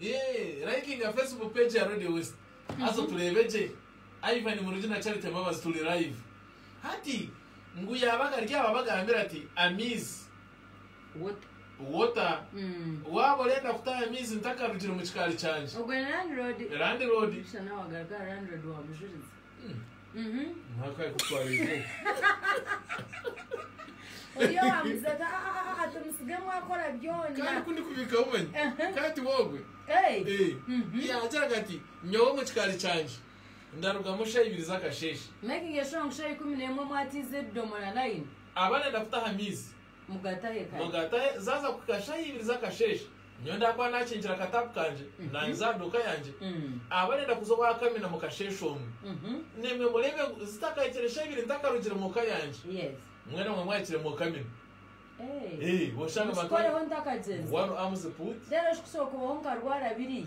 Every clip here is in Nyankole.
Eeh, likinga Facebook page ya Radio West. Haza otureebe gye. Ivan Murungi na Charity Mbabazi turi live. Hati, ngu yaabaga ari aho abagambire ati, Amiizi. Water. Water. Waaba orenda kutaha amiizi ntakarugire omu kikaari kyangye. Ogwo ni Landlord. Landlord. Busha nawe agaruke aha Landlord wa Mujurizi. Oriyo wamuza ati "Ah, ah, ah, ati musigemu akora kandi byona kundi kubikaho manyi Aha. kati wogwe Hey. Eh, Mhm. yakiraga ati nyowe omu kikaari kyangye ndarugamu shaha ibiri z'akasheeshe Making a sure ngu shaha ikumi n'emwe mwatiize ebidomora layini. aba nayenda kutaha amaizi Mugatahe kare. Mugatahe zaaza kuhika shaaha ibiri z'akasheeshe. Nyowe ndaakuba naakinkire akataapu kangye naahinza aha duuka yangye. Ahaba nenda kuza owa kamina mu kasheeshe omu. Naimwe mureebe ngu zitakahikire shaaha ibiri ntakarugire mu ka yangye. Mwena mwe mwahikire mu kamina. Eeh, oshanga abantu bari. Wano Amzi Put. Reero ekikusobeka obaho nkarwara biriya.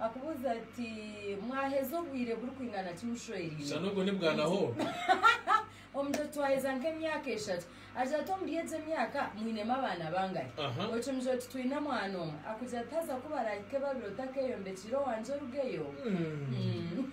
Akubuuza ati, Mwaheza obwire burikwingana ki mushweriine? Shana ogwo ni bwana hoo. Omugira oti, Twaheza nk'emyaka eshatu. Agira ati, Omuri egyo emyaka mwinemu abaana bangahi? Aha. Okimugira oti, Twine mwana omwe. Akugira ati, Haza ku baraahike babiri otakeeyombekiire owangye orugeyo? Umm.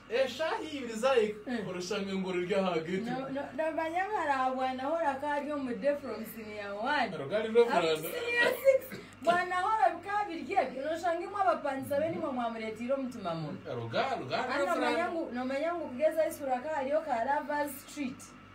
Eshaaha ibiri zaahika, orushange ngu ruri aha getwe. Nomanya ngu hariho bwana horo akaba ari omu day from senior one. Rugari rw'emihanda. Up to senior six. Bwana horo bikaba biri ebyo. Noshanga imwe abapangisa be nimwe mwamureeteire omutima mubi. Ruga, rugari Haza nomanya rw'emihanda. ngu, nomanya ngu kugeza high school hakaba hariyo ka lovers street.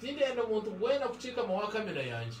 Tindenda omuntu weena kucikama owa kamina yangye.